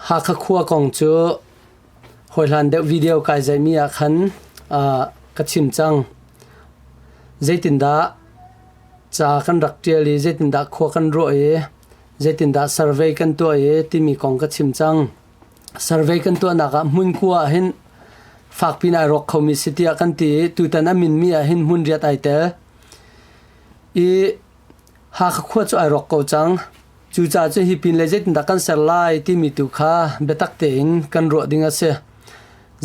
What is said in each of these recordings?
Hakha khua kong cu hawihlan deuh video kai zeimi ah khan ka chim cang. Zeitindah ca kan rak ṭial i zeitindah khua kan ruah i zeitindah survey kan tuah i timi kong ka chim cang. Survey kan tuahnak ah hmun kua ah hin fak piin ai ruak khomi si tiah kan ti i tutan a minmi ah hin hmun riat ai tel. I Hakha khua cu ai rawk ko cang. Cucaah cu hi pin le zeitindah kan ser lai timi tu kha biatak tein kan ruah ding a si.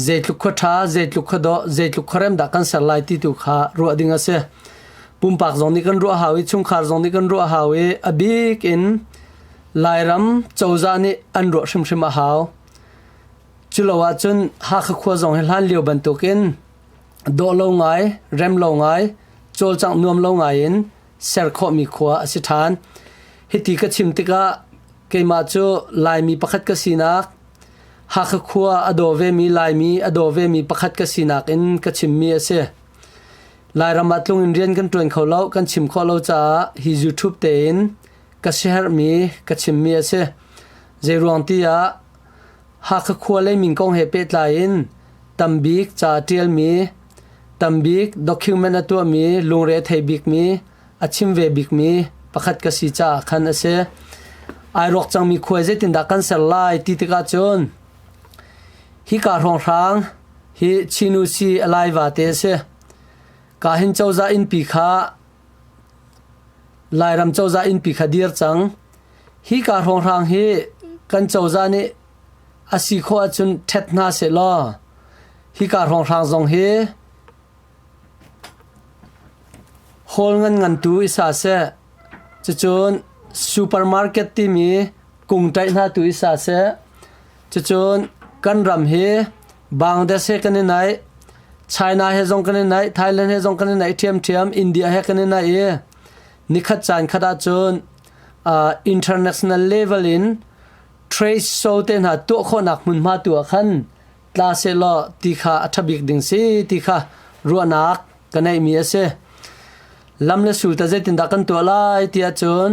Zeitluk khua ṭha, zeitluk khua dawh, zeitluk khuarem dah kan ser lai ti tu kha ruah ding a si. Pumpak zong nih kan ruah hau i chungkhar zong nih kan ruah hau i a bik in Lairam cozah nih an ruah hrimhrim a hau. Culo ahcun Hakha khua zong hi hlan lio bantuk in dawh lo ngai, rem lo ngai, cawlcangh nuam lo ngai in ser khawhmi khua a si ṭhan. Hiti ka chim tikah keimah cu Laimi pakhat ka sinak Hakha khua a daw vemi Laimi a daw vemi pakhat ka sinak in ka chimmi a si. Lairam ah tlung in rian kan ṭuan kho lo, kan chim khawh lo caah hi YouTube tein ka siherhmi ka chimmi a si. Zeiruang tiah Hakha khua le min kong he pehtlai in tambik ca ṭialmi Tam bik document a tuahmi, lungre a thei bikmi, a chim ve bikmi pakhat ka si caah khan a si. Ai ruak cangmi khuai zeitindah kan ser lai ti tikah cun hika hrawnghrang hi chinu si a lai va te a si. Ka hin cozah innpi kha Lairam cozah innpi kha dir cang. Hi ka hrawnghrang hi kan cozah nih a si khawh ahcun ṭhet hna seh law Hika hrawnghrang zong hi hall ngan-ngantu i sa seh, cucun supermarket timi kung ṭaih hna tu i sa seh. Cucun kan ram hi Bangladesh he kan i naih, China he zong kan i naih, Thailand he zong kan i naih ṭhiamṭhiam, India he kan i naih i nikhat caan khat ahcun uh, international level in trade show te hna tuah khawhnak hmunhma tu ah khan tla sehlaw ti kha a ṭha bik ding si ti kha ruahnak ka neihmi a si. Lam le sul ta zeitindah kan tuah lai tiah cun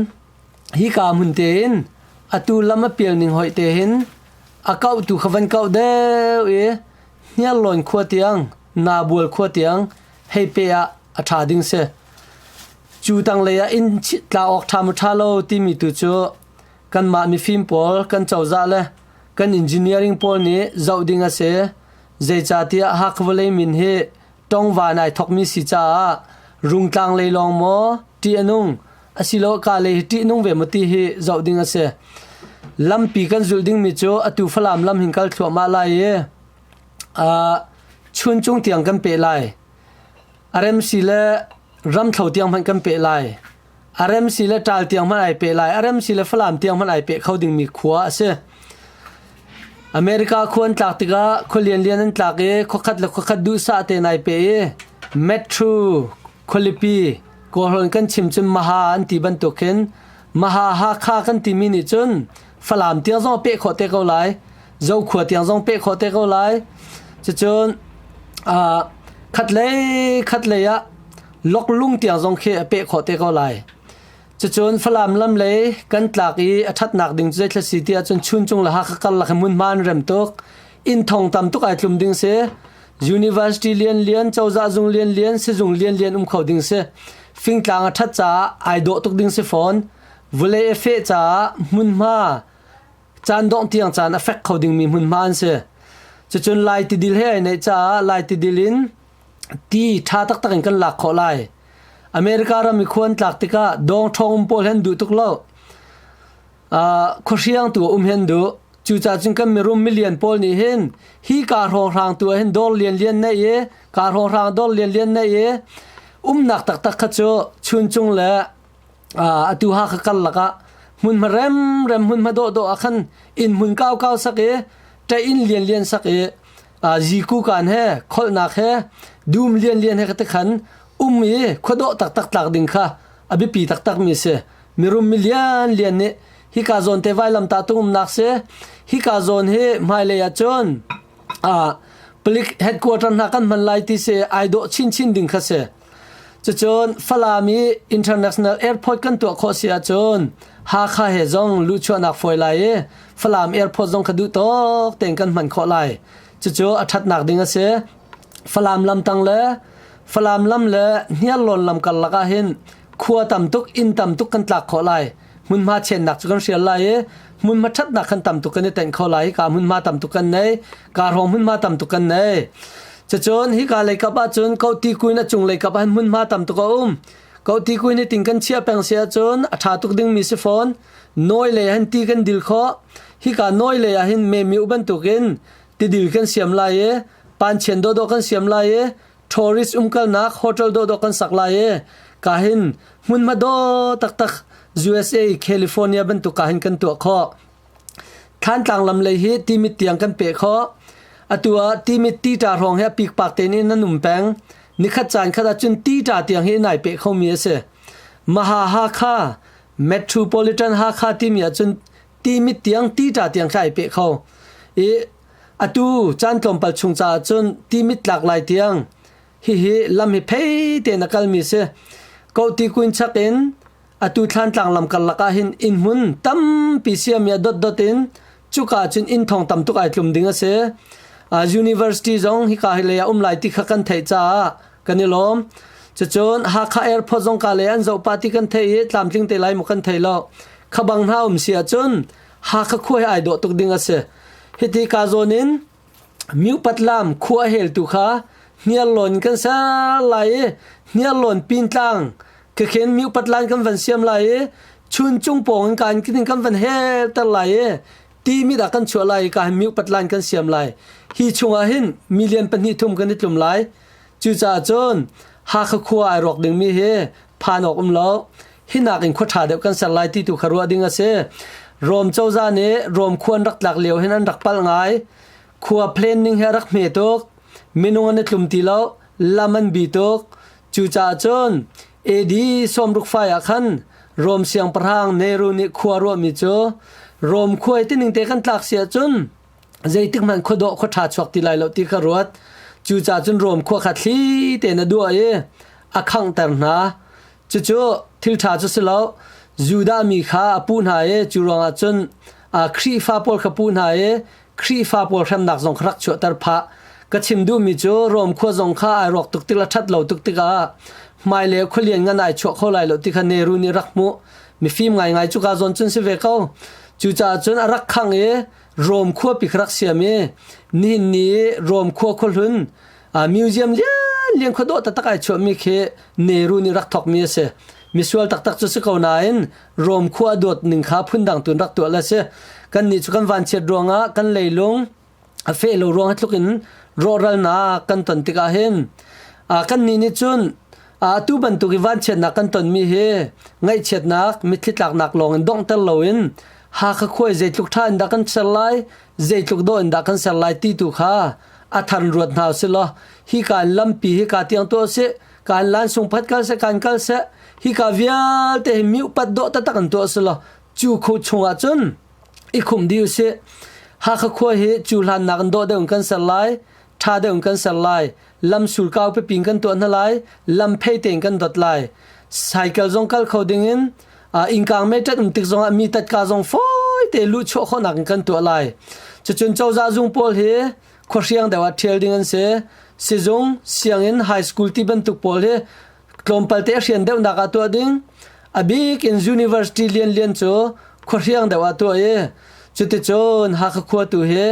hika hmun tein atu lam a pial ning hoih te hin a kauhtu kha van kauh deuh i hniarlawn khua tiang nabual khua tiang hei pe ah a ṭha ding si. Cu tanglei ah in tla awk ṭha maw ṭha lo timi tu cu Kanmah mifim pawl kan cozah le kan engineering pawl nih zoh ding a si. Zeicatiah Hakha vawlei min hi tongva nai thokmi si caah Rungtlang lei lawng maw ṭih a nung asilo ka lei hi ṭih nung ve maw ti hi zoh ding a si. Lampi kan zulh dingmi cu atu Falam lam hin kal thluahmah lai i uh, chun cung tiang kan peh lai. RMC le ramthlo tiang hmanh kan peh lai. A rem si le ṭaal tiang hmanh ai peh lai, a rem si le Falam tiang hmanh ai peh kho dingmi khua a si. America khua an tlak tikah khua lianlian an tlak i khuakhat le khuakhat duhsah tein ai pe i Metro khualipi kawhlawn kan chim cun Maha an ti bantuk hin Maha Hakha kan timi nih cun Falam tiang zong peh khawh te ko lai, Zokhua tiang zong peh khawh te ko lai. Cucun khat lei khat lei ah Loklung tia zong khi a peh khawh te ko lai. Cucun Falam lam lei kan tlak i a ṭhatnak ding cu zeithla si ti ahcun Chuncung le Hakha karlak hi hmunhma an rem tuk. Inn thong tam tuk ai tlum ding si. University lianlian, cozah zung lianlian, sizung lianlian um kho ding si. Fingtlang a ṭhat caah ai dawh tuk ding si fawn. Vulei a feh caah hmunhma caan dongh tiang caan a fek kho dingmi hmunhma an si. Cucun lai tidil he ai neih caah lai tidil in ti ṭha taktak in kan lak khawh lai. America ram i khua an tlak tikah dawng ṭhawng um pawl hi an duh tuk lo. Uh, khuahriangtu um hi an duh. Cucaah cun kan mirum milian pawl nih hin hi kaa hrawhrangtu ah hin dawr lianlian neih i kaa hrawhrang dawr lianlian neih i umnak taktak kha cu chuncung le uh, atu ha kha kar lakah hmunhma remrem hmunhma dawhdawh ah khan inn hmun kaukau sak i ṭeh inn lianlian sak i Aazi kukan he kholhnak he dum lianlian he ka te khan um i khuadawh taktak tlak ding kha a biapi taktakmi a si. Mirum milianlian nih hika zawn te vailam ta tung umnak si hika zawn hi hmailei ah cun ah palik headquarter hna kan hman lai ti si ai dawh chinchin ding kha si. Cucun Falam i International Airport kan tuah khawh si ahcun Hakha he zong luhchuahnak fawi lai i Falam Airport zong kha duh tawk tein kan hman khawh lai. Cucu a ṭhatnak ding a si. Falam lamtang le Falam lam le Hniarlawn lam karlak ah hin khua tam tuk, inn tam tuk kan tlak khawh lai. Hmunhma chiannak cu kan hrial lai i hmunhma ṭhatnak kan tam tuk kan i tenh kho lai. Hika hmunhma tam tuk kan nei. ka rong hmunhma tam tuk kan nei cacun hika leikap ahcun koti kuin a cung leikap ah hmunhma tam tuk a um koti kuin hi ting kan chiah peng se ahcun a tha tuk dingmi si fawn nawi lei han ti kan dil kho hika nawi lei ah hin memi u bantuk in tidil kan siam lai i panchen do do kan siam lai i tourist umkalnak hotel do do kan sak lai i ka hin hmunhma do taktak USA California bantuk ka hin kan tuah kho Thlantlang lam lei hi timit tiang kan peh khawh. Atu ah timit tita hrawng he pikpak tein in an um peng. Nikhat caan khat ah cun tita tiang hi nai peh khomi a si. Maha Hakha Metropolitan Hakha timi ah cun timit tiang tita tiang kha ai peh kho. I atu caan tlawmpal chung caah cun timit tlak lai tiang hihi lam hi phei te na kalmi si. Kohti kuin chak in Atu thlantlang lam karlak ah hin inn hmun tampi siami ah dotdot in cuka cun inn thong tam tuk ai tlum ding a si. Uh, university zong hika hi lei ah um lai ti kha kan theih caah kan i lawm. Cacun Hakha Airport zong ka lei an zoh party kan thei i tlamtling te lai mu kan thei lo. Khabang hna um si ahcun Hakha khua hi ai dawh tuk ding a si. Hiti ka zawn in Miupatlam khuaheltu kha hniarlawn kan ser lai i hniarlawn pintlang khekhen miupatlan kan van siam lai i chuncung pawng in kaan kiding kan van helter lai i ti mit ah kan chuah lai i kaa miupatlan kan siam lai. Hi chungah hin milian pahnih thum kan i tlum lai. Cucaah cun Hakha khua ai rawk dingmi hi phan awk um lo hi nak in khua ṭha deuh kan ser lai ti tu kha ruah ding a si Rome cozah nih Rome khua an rak tlak lio hin an rak pal ngai khua planning he rak hme tuk minung an i tlum ti lo lam an bi tuk cu caah cun AD somruk fai ah khan Rome siangpahrang Nero nih khua ruah mi cu Rome khua tining te kan tlak si ahcun zeitik hmanh khua dawh khua ṭha chuak ti lai lo ti ka ruat cu ca cun Rom khua kha thli tein a duah i a khangter hna cucu thil ṭha cu si lo Judah mi kha a pu hna i cu ruangah cun Khrihfa pawl kha pu hna i Khrihfa pawl hremnak zong kha rak chuahter phah ka chim duhmi cu Rom khua zong kha ai rawk tuk tik le ṭhat lo tuk tikah hmailei khua lian ngan ai chuah kho lai lo ti kha Neru nih rak hmuh mifim ngaingai cu kaa zawn cun si ve ko cucaah cun a rak khang i Rome khua pik rak siam i nihin ni i Rome khua khuahlun museum lian lian khua dawh taktak ai chuahmi khi Nehru nih rak thawkmi a si. Misual taktak cu si ko nain Rome khua a dawt ning kha phundang tuin rak tuah a si. Kannih cu kan vanchiat ruangah kan leilung a feh lo ruangah tluk in rawhralnak kan ton tikah hin kan nih nih cun atu bantuk i vanchiatnak kan tonmi hi ngaihchiatnak mitthli tlaknak lawng in donghter loin Hakha khua i zeitluk ṭha in dah kan ser lai, zeitluk dawh in dah kan ser lai ti tu kha a thar ruat hna u si law hika in lampi hika tiang tuah u sih, kaan lansung phat kal seh, kaan kal seh, hika vialte hi mi upat dawh taktak in tuah u si law cu khu chungah cun i khum dih u sih. Hakha khua hi cu hlannak in dawh deuh in kan ser lai. ṭha deuh kan ser lai lamsul kau pepin kan tuah hna lai lam phei tein kan dot lai cycle zong kal kho ding in ingkang me tat um tik zong ah mi tatka zong foi te lu chuah khonak in kan tuah lai cucun cozah zung pawl hi khohriang deuh ah ṭhial ding an si sizung sianginn high school ti bantuk pawl hi tlawmpal te hrian deuhnak ah tuah ding a bik in university lian lian cu khuahriang deuh ah tuah i cuticun Hakha khua tu hi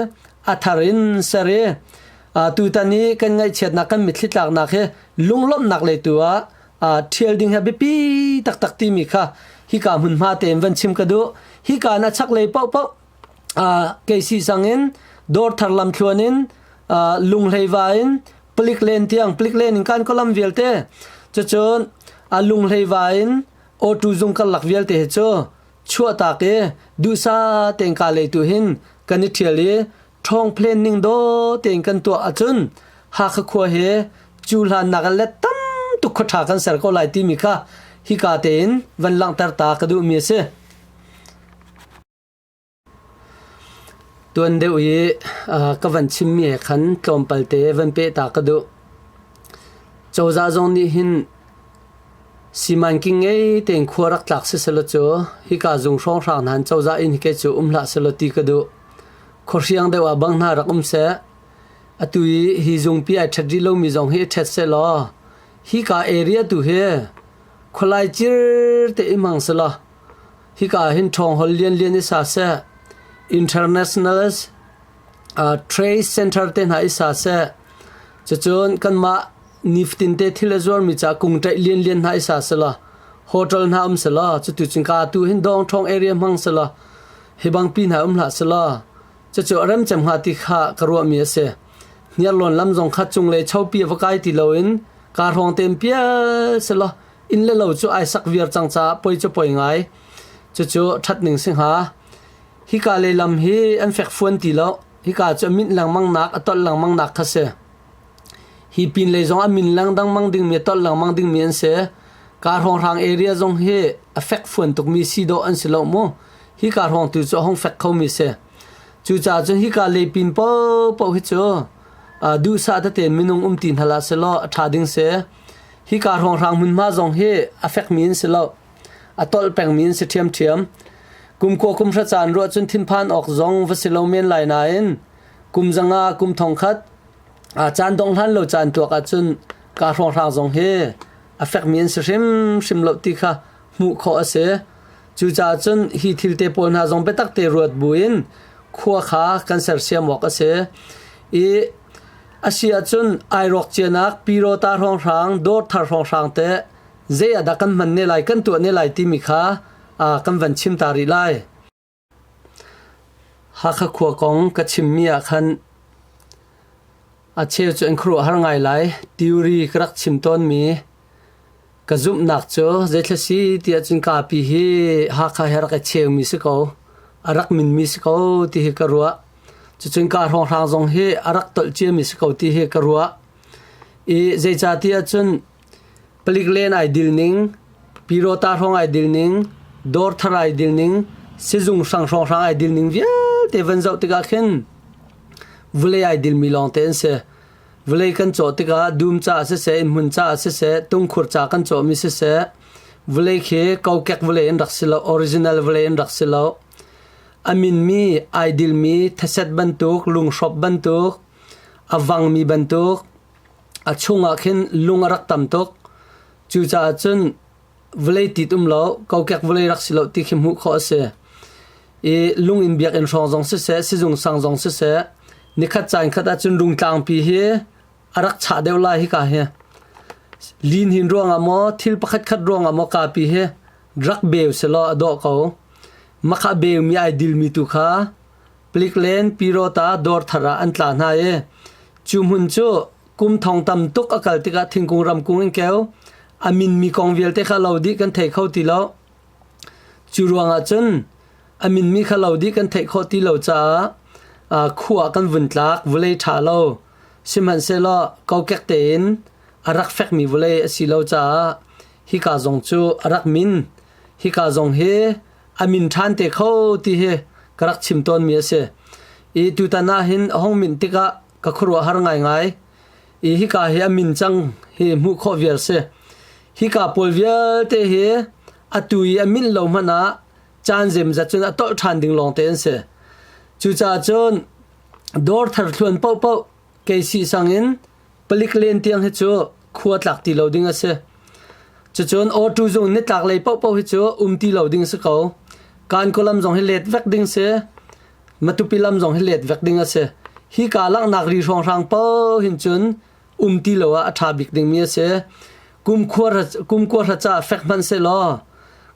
a thar in ser i tutan i kan ngaihchiatnak kan mitthli tlaknak hi lunglawmhnak lei tu ah ṭhial ding he biapi taktak timi kha hika hmunhma tein van chim ka duh hika na chaklei paohpaoh Keisi sangin dawr thar lamthluan in lunghleiva in palik len tiang palik len in kan ka lam vialte cucun a lunghleiva in auto zung kan lak vialte hi cu chuahtak i duhsah tein kaa lei tu hin kan i ṭhial i ṭhawng phlen ning daw tein kan tuah ahcun Hakha khua hi cu hlannak ah le tam tuk khua ṭha kan ser ko lai timi kha hika tein van langhter ta ka duhmi a si. Tuan deuh i ka van chimmi he khan tlawmpal te van peh ta ka duh. Cozah zong nih hin siman king ngei tein khua rak tlak siselaw cu hika zung hrawnghrang hna hin cozah in hikei cu um hlah selaw ti ka duh. Khuahriang deuh ah bang hna rak um seh. Atu i hi zungpi ai ṭhet rih lomi zong hi i ṭhet seh law hika area tu hi khualai cir te i hmang selaw Hika ah hin ṭhawngholh lianlian i sa seh, international trade center te hna i sa seh, cucun kanmah nifatin te thil a zuarmi ca kung ṭaih lianlian hna i sa selaw, hotel hna um selaw, cutu cungka tu hin dawngṭhawng area hmang selaw, hi bangpi hna um hlah selaw, cucu a rem cem hnga ti kha ka ruahmi a si. Hniarlawn lam zong kha cunglei chopi a va kai ti loin kaa hrawng tem pial selaw, inn le lo cu ai sak viar cang caah poi cu poi ngai cucu ṭhat ning si hnga hika le lam hi an fekfuan ti lo hika cu a minh lengmangnak a tolh lengmangnak kha si hi pin lei zong a min lengdangmang dingmi a tolh lengmang dingmi an si ka hrawnghrang area zong hi a fekfuan tukmi si dawh an si lo mu hi ka hrawng tu cu a hong fek khomi si cu ca cun hika le pin po po hi cu duhsah tete minung um ti hnala si law a ṭha ding si Hika hrawnghrang hmunhma zong hi a fekmi an si lo. A tolh pengmi an si ṭhiamṭhiam. Kumkua kum hra caan ruah cun thinphan awk zong va si lo men lai nain kum zanga kum thongkhat caan dong hlan lo caan tuak ahcun ka hrawnghrang zong hi a fekmi an si hrimhrim lo ti kha hmuh khawh a si. Cucaah cun hi thilte pawl hna zong biatak te ruat buin khua kha kan sersiam awk a si. I A si ahcun ai rawkcianak pirawta hrawnghrang, dawr thar hrawnghrang teh zei adah kan hman ne lai, kan tuah ne lai timi kha kan van chim ta rih lai. Hakha khua kong ka chimmi ah khan a cheu cu an khuaruah har ngai lai. Theory ka rak chim tawnmi Ka zumhnak cu zeitlai si ti ahcun kapi hi Hakha hi a rak i cheumi si ko, a rak minmi si ko ti hi ka ruah. Cucun ka hrawnghrang zong hi a rak tolh ciami si ko ti hi ka ruah. I zeicah ti ahcun palik len ai dilning, Pyirawta hrawng ai dilning, Dawrthar ai dilning, sizung hrang hrawnghrang ai dilning vialte van zoh tikah khin vulei ai dilmi lawngte an si. Vawlei kan cawh tikah dum caah siseh, innhmun caah siseh, tungkhur ca kan cawhmi siseh, vawlei khi kokek vawlei in rak si lo, original vawlei in rak si lo. A minmi, idilmi, thaset bantuk, lunghrop bantuk, a vangmi bantuk, a chungah khin lung a rak tam tuk. Cucaah cun vawlei tit um lo kokek vawlei rak si lo ti khi hmuh khawh a si i lung in biakinn hrawng zong siseh sizung sang zong siseh nikhat ca in khat ahcun rungtlangpi hi a rak chah deuh lai hika hi lin hin ruangah maw thil pakhat khat ruangah maw kapi hi rak beu selaw a dawh ko mah kha beu mi ai dil mi tu kha Pliklen Pirota dawr thar ah an tla hna i cu hmun cu kum thong tam tuk a kal tikah thingkung ramkung in keu a minmi kong vialte kha lo dih kan thei kho ti lo. Cu ruangah cun a minmi kha lo dih kan theih khawh ti lo caah uh, khua kan vun tlak vawlei ṭha lo sihmanhsehlaw kokek tein a rak fekmi vawlei a si lo caah hika zong cu a rak min. Hika zong hi a min ṭhan te kho ti hi ka rak chim tawnmi a si. I tutan ah hin a hung minh tikah ka khuaruahhar ngaingai. I hika hi a min cang hi hmuh khawh viar si. Hika pawl vialte hi atu i a minh lo hmanh ah caan zemzat cun a tolh ṭhan ding lawng te an si. Cucaah cun dawr thar thluan paohpaoh kei si sang in Palik len tiang hi cu khua tlak ti lo ding a si. Cucun awtu zung nitlak lei paohpaoh hi cu um ti lo ding si ko. Kankaw lam zong hi let vek ding si. Matupi lam zong hi let vek ding a si. Hi ka langhnak ri hrawnghrang paoh hin cun um ti lo ah a ṭha bik dingmi a si. Kumkhua kumkua hraca fek hmanh se law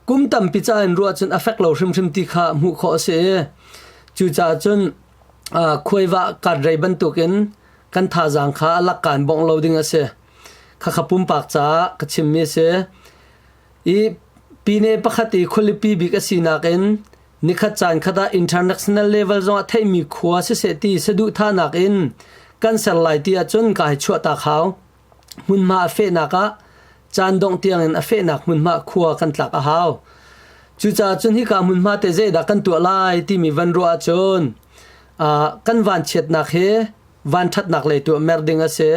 kum tampi ca in ruah cun a fek lo hrimhrim ti kha hmuh khawh a si i cucaah cun khuaiva karrei bantukin kan thazaang kha a lakka in bongh lo ding a si. Khakha pumpak caah ka chimmi a si. I pine pakhat i khualipi bik a sinak in nikhat caan khat ah international level zongah theihmi khua siseh ti saduhthahnak in kan ser lai ti ahcun ka hai chuahtak hau. Hmunhma a fehnak ah caan dongh tiangin a fehnak hmunhma khua kan tlak a hau. Cucaah cun hika hmunhma te zeidah kan tuah lai timi van ruah ahcun uh, kan vanchiatnak hi vanṭhatnak lei tuah mer ding a si.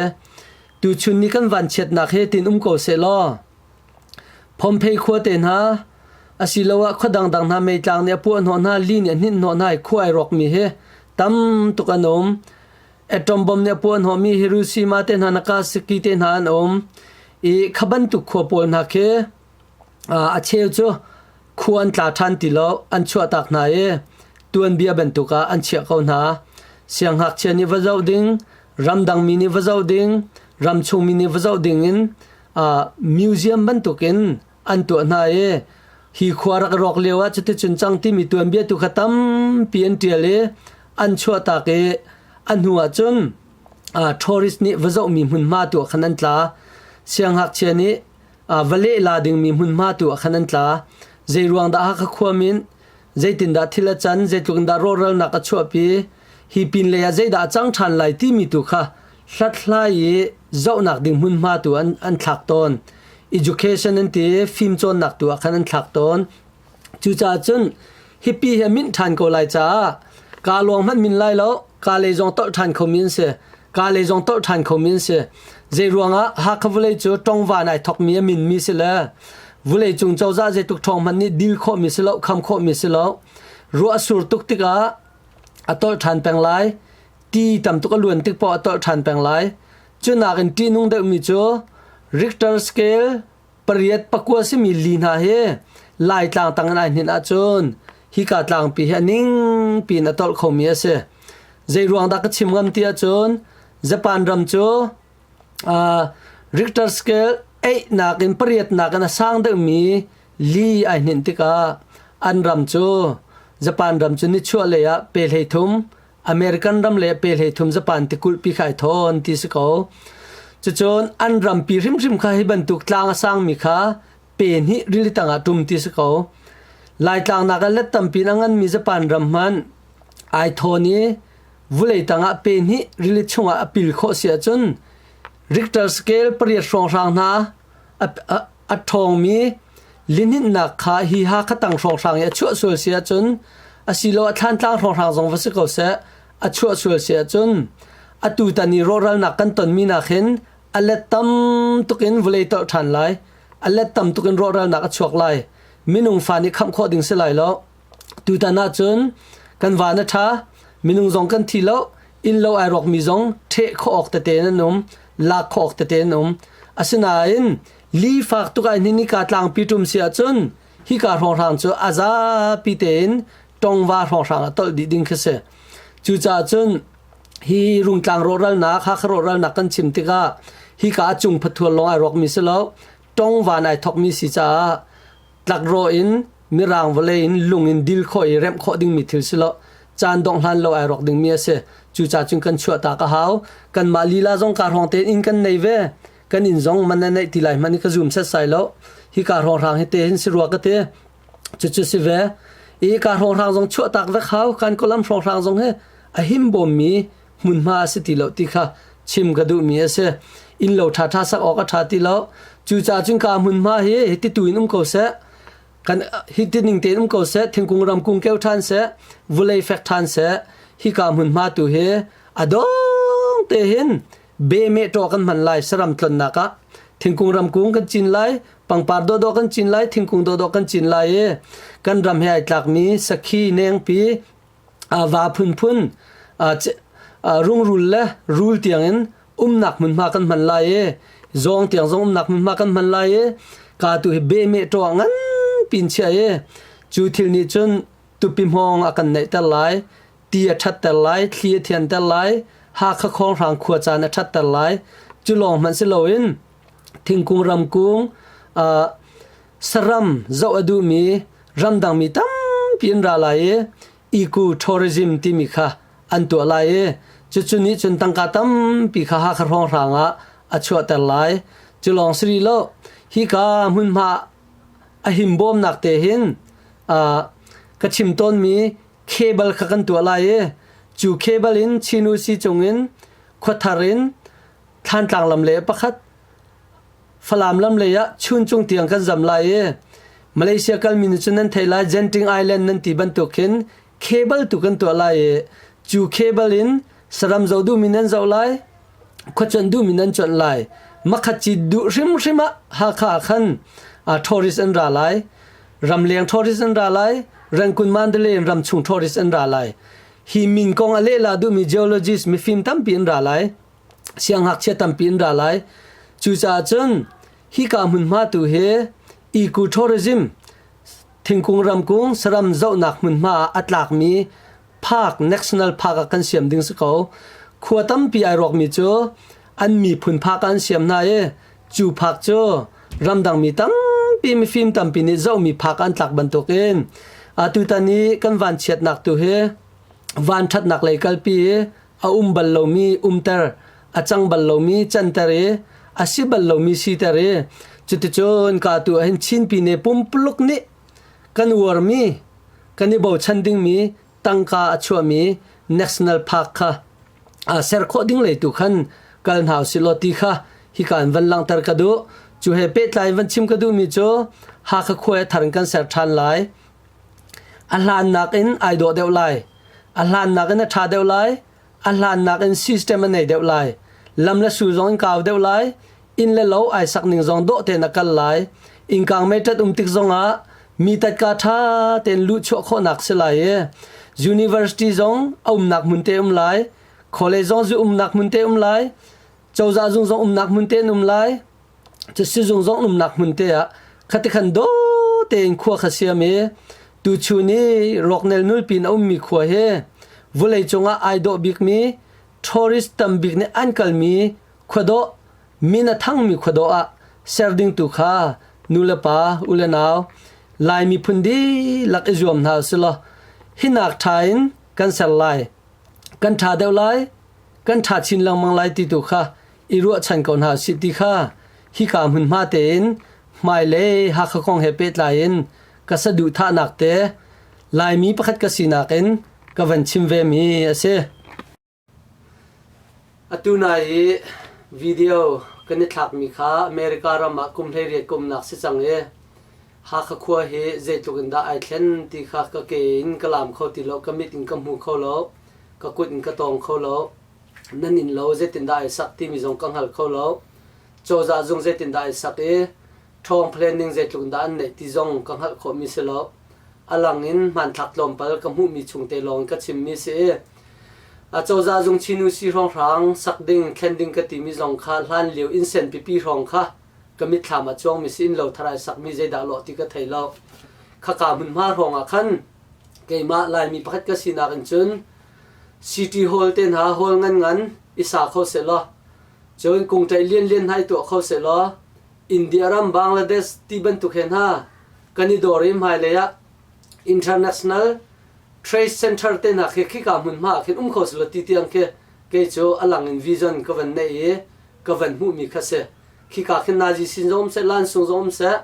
Tuchun ni kan vanchiatnak hi tin um ko sehlaw Phomphei khua te hna asiloah khua dangdang hna meitlang nih a puah hnawh hna, li nih a hninh hnawh hna i khua ai rawkmi hi tam tuk an um. Atom bom nih a puah hnawhmi Hiroshima te hna, Nagasaki te hna an um i kha bantuk khua pawl hna khi a cheu cu khua an tla ṭhan ti lo, an chuahtak hna i tuanbia bantuk ah an chiah ko hna. Sianghngakchia nih va zoh ding, ramdangmi nih va zoh ding, ramchungmi nih va zoh ding in museum bantuk in an tuah hna i hi khua rak rawk lio ah cuticun cang timi tuanbia tu kha tampi an ṭial i an chuahtak i a hnu ah cun tourist nih va zohmi hmunhma tu ah khan an tla sianghngakchia nih va leh la dingmi hmunhma tu ah khan an tla zei ruang dah Hakha khuam in zeitindah thil a can zeitluk in dah rawhralnak a chuahpi hi pin lei ah zeidah a cang ṭhan lai timi tu kha Hlathlai i zohnak ding hmunhma tu an, an thlak tawn. Education an ti, fimcawnnak tu ah khan an thlak tawn. Cucaah cun hipi hi minh ṭhan ko lai caah ka lawng hmanh min lai lo, ka lei zong tolh ṭhan khomi an si. Ka lei zong tolh ṭhan khomi an si. Zei ruangah Hakha vawlei cu ṭongva nai thokmi a minmi si le vawlei cung cozah zeitluk ṭhawng hmanh nih dil khawhmi si lo, kham khawhmi si lo. Ruah a sur tuk tikah a tolh ṭhan peng lai. ti tam tuk a luan tik paoh a tolh ṭhan peng lai cu nakin ṭihnung deuhmi cu Richter scale pariat pakua simi li hna hi Laitlang tang in ai hninh ahcun hika tlangpi hi a ning piin a tolh khomi a si zei ruang dah ka chim ngam ti ahcun Japan ram cu Richter scale einak in pariatnak in a sang deuhmi li ai hninh tikah an ram cu Japan ram cu nichuah lei ah pe hlei thum American ram le pe hlei thum Japan ti kulh pi khai thon ti si ko. Cucun an rampi hrimhrim kha hi bantuk tlang a sang mi kha pe hnih rili tang ah tum ti si ko. Laitlang nak ah let tampi in a ngan mi Japan ram hmanh ai thon i vulei tang ah pe hnih rili chung ah a pil khawh si ahcun Richter scale pariat hrawnghrang hna a, a, A ṭhawngmi lihninhnak kha hi Hakha tang hrawnghrang i a chuah sual si ahcun asilo a thlantlang hrawnghrang zong va si ko seh a chuah sual si ahcun atutan i rawhralnak kan tonmi nakin a let tam tuk in vulei tolh ṭhan lai a let tam tuk in rawhralnak a chuak lai minung fa nih khamh khawh ding si lai lo Tutan ahcun kan van a ṭha. Minung zong kan thi lo. Innlo ai rawkmi zong ṭheh khawh awk tete an um. Lak khawh awk tete an um. Asinain li fak tuk ai hnin hika tlangpi ṭum si ahcun hika hrawnghrang cu a zapi tein tongva hrawnghrang ah tolh dih ding khi si. Cucaah cun hi rungtlang rawhralnak, Hakha rawhralnak kan chim tikah hika a cung phathual lawng ai rawkmi si lo, tongvan ai thawkmi si caah tlakrawh in mirang vawlei in lung in dil khawh i remh khawh dingmi thil si lo caan dongh hlan lo ai rawk dingmi a si cuca cun kan chuah ta ka hau kanmah lila zong ka hrawng tein in kan nei ve kan in zong man na neih ti lai hmani ka zum set sai lo hi ka ro hrang hi te hin si rua ka te cucu si ve i ka ro hrang zong chuah tak vek hau kan kolam ro hrang zong hi a him bom mi hmunhma a si ti lo ti kha chim ka duhmi a si inn lo ṭha ṭha sak awk a ṭha ti lo cucaah cun ka hmunhma hi hititu in um ko seh kan hitining tein um ko seh thingkung ramkung keu ṭhan seh vulei fek ṭhan seh hi ka hmunhma tu hi a dong te hin be me ṭo kan hman lai saram tlonnak ah thingkung ramkung kan cin lai pangpar do do kan cin lai thingkung do do kan cin lai i kan ram he ai tlakmi sakhi nengpi va phunphun rungrul le rul tiangin umnak hmunhma kan hman lai i zawng tiang zong umnak hmunhma kan hman lai i ka tu hi behmeh ṭaw ah nganpi in chiah i cu thil nih cun tupi hmawng a kan neihter lai ti a ṭhatter lai thli a thianter lai hakha khawnghrang khua caan a ṭhatter lai cu lawng hmanh si loin thingkung ramkung ah saram zoh a duhmi ramdangmi tampi an ra lai i eco tourism timi kha an tuah lai i cucu nih cun tangka tampi kha Hakha hrawnghrang ah a chuahter lai cu lawng siri lo hika hmunhma a himbawmnak te hin ka chim tawnmi cable kha kan tuah lai i cu cable in Chin Usi cung in khuathar in Thlantlang lam le pakhat Falam lam lei ah chun cung tiang kan zam lai i Malaysia kalmi nih cun nan thei lai Genting Island nan ti bantuk hin cable tu kan tuah lai i cu cable in saram zo duhmi nan zoh lai khuacuanh duhmi nan cuanh lai makhat ci duh hrimhrim ah Hakha ah khan tourist an ra lai ramleng tourist an ra lai Rangkun Mandalay in ramchung tourist an ra lai hi min kong a lehla duhmi geologist mifim tampi an ra lai Siangngakchia tampi an ra lai. Cucaah cun hika hmunhma tu hi eco-tourism thingkung ramkung saram zohnak hmunhma ah a tlakmi park, national park ah kan siam ding si ko. Khua tampi ai rawkmi cu an miphun park ah an siam hna i cu park cu ramdangmi tampi mifim tampi nih zohmi park ah an tlak bantuk in atutan i kan vanchiatnak tu hi vanṭhatnak lei kalpi i a um bal lomi umter a cang bal lomi canter i a si bal lomi siter i cuticun ka tu ahhin chinpine pumpuluk nih kan uarmi kan i bochan dingmi tangka a chuahmi national park kha ser khawh ding lei tu khan kal hna usih law ti kha hikaan van langhter ka duh cu he pehtlai van chim ka duhmi cu Hakha khua i thar in kan ser ṭhan lai A hlan nakin ai dawh deuh lai. A hlan nakin a ṭha deuh lai. A hlan nakin system a nei deuh lai. Lam le su zong in kau deuh lai. Inn le lo ai sak ning zong dawh tein a kal lai. Innkang meitlat um tik zongah mi tatka ṭha tein luh chuah khawhnak si lai i university zong a umnak hmun te um lai. College zong zu umnak hmun te um lai. Cozah zung zong umnak hmun te in um lai. Cu sizung zong umnak hmun te ah khatikhan daw tein khua kha siam i tuchun i rawknel nulpin a ummi khua hi vulei cungah ai dawh bikmi tourist tam bik nih an kalmi khuadawh min a thangmi khuadawh ah ser ding tu kha nulepa u le nau Lai miphun dihlak i zuam hna usilaw hi nak ṭha in kan ser lai. kan ṭha deuh lai, kan ṭha chin lengmang lai ti tu kha i ruahchan ko hna sih ti kha hika hmunhma tein hmai le Hakha kong he pehtlai in ka saduhthahnak te Laimi pakhat ka sinak in ka van chim ve mi a si. Atu nai i video kan i thlakmi kha America ram ah kum hleiriat ka umnak si cang i Hakha khua hi zeitluk in dah ai thlen ti kha ka ke in ka laam kho ti lo, ka mit in ka hmu kho lo, ka kut in ka tawng kho lo, nan inn lo zeitin dah ai sak timi zong ka hngal kho lo. Cozah zung zeitin dah ai sak i ṭhawng planning zeitluk in dah an neih ti zong ka hngalh khawhmi si lo. a lang in hmanthlak tlawmpal ka hmuhmi chungte lawng in ka chimmi si i a cozah zung chinu si hrawnghrang sak ding thlen ding ka timi zong kha hlan lio innsen pipi hrawng kha ka mitthlam ah cuangmi si in lo thar ai sakmi zeidah lawh ti ka thei lo khaka hmunhma hrawng ah khan keimah laimi pakhat ka sinak in cun city hall te hna hall ngan ngan i sa kho sehlaw cun kung tlaih lian lian hai tuah kho sehlaw India ram Bangladesh ti bantuk he hna kan i dor i hmailei ah international trade center te hna khi khika hmun hma ah khin um kho silo ti tiang khi kei cu alang in vision ka van neih i ka van hmuh mi kha si khika khin nazi sin zong um seh lansung zong um seh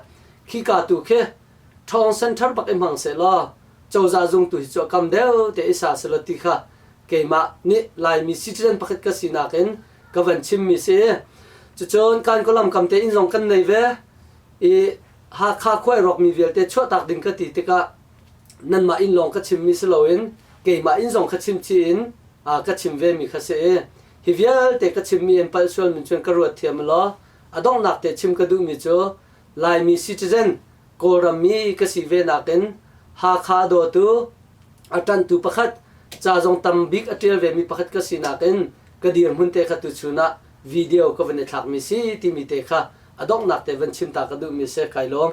khika tu khi thong center bak i hmang se law cozah zung tu hi cu a kam deuh te i sa selo ti kha keimah nih laimi citizen pakhat ka sinak in ka van chimmi si cucun kan kawlam kam te inn zong kan nei ve i Hakha khuai rawkmi vialte chuahtak ding ka ti tikah nanmah inn lawng ka chimmi si loin keimah inn zong ka chim ci in ka chim vemi kha si hi vialte ka chimmi in palh sual min cun ka ruat thiam law a donghnak te chim ka duhmi cu Laimi citizen, Kawlram i ka si ve nakin Hakha a dawtu, a ṭanhtu pakhat, ca zong tam bik a ṭial vemi pakhat ka si nakin ka dirhmun te kha tuchun ah video ka van i thlakmi si timi te kha a donghnak te van chim ta ka duhmi a si kai lawm.